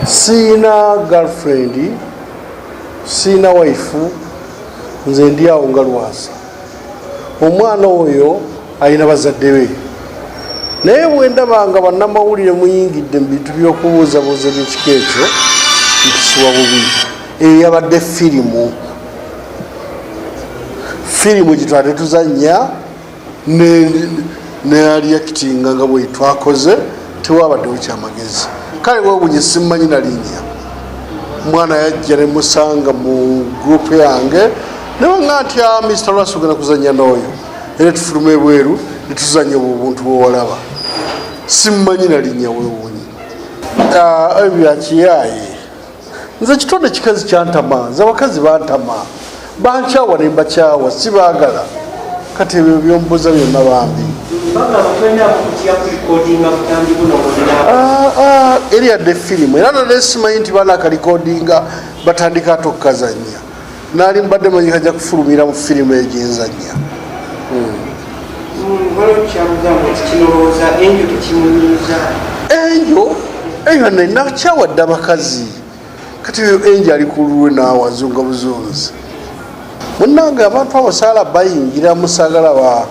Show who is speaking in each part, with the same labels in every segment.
Speaker 1: siina girlfriend siina waifu nze ndi awo nga lwasa omwana oyo alina bazadde be naye bwendabanga banamawulire muyingidde mu bintu byokubuuzabuuza ebyekika ekyo mpisiwa bubi eyo yabadde firimu firimu gyetwali tetuzanya nealiakitinga nga bwetwakoze tewabaddewo kyamagezi kale wewunye simumanyi nalinya mwana yajja nemusanga mu gurupu yange newanga nti ah, mr lwasi ogenda kuzanya nooyo era tufuluma ebweru netuzanya obwo obuntu bwewalaba simumanyi nalinya wewunye ah, ebyakiyaye nze kitonde kikazi kyantama nze abakazi bantama bankyawa ne mbakyawa sibaagala kati ebyo byombuuza byonna bambi ah, ah, eri yadde firimu era nalesimanyi nti baana akalikodinga batandika tokukazanya nali mbadde manyi kaja kufulumira mu firimu egyenzanya enjo enjo nakyawadde abakazi kati oyo enjo ali kululwe nawazunga buzunzi munange abantu abasaala bayingira musagala ba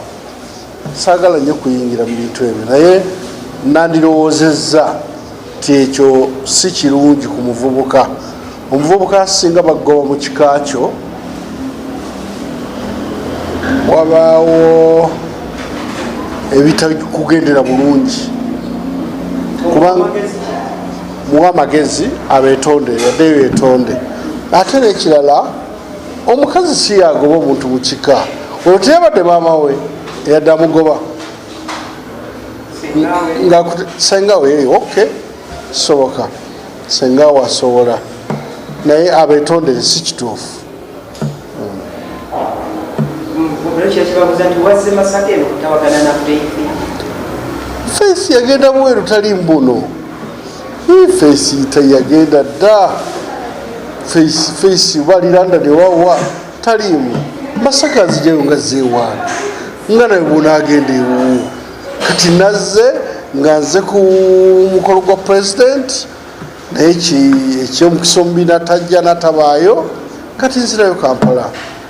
Speaker 1: saagala nnyo kuyingira mu bintu ebyo naye nandirowoozezza nti ekyo si kirungi ku muvubuka omuvubuka asinga bagoba mu kika kyo wabaawo ebitakugendera bulungi kubanga muwa amagezi abetonde yadde betonde ate nekirala omukazi siyagoba omuntu mukika olwo teyabadde maamawe eyadde amugoba sengawe eh, ok soboka sengawe asobola naye abetondere si kituufu faith yagenda bweru tali mbuno feesi teyagenda dda feesi baliranda newawa taliimu masaka nzijayo nga zeewaana nga naye bwonaagenda ewuwo kati nazze nga nze ku mukolo gwa pulezidenti naye ekyomukisa omubi natajja natabaayo kati nzirayo kampala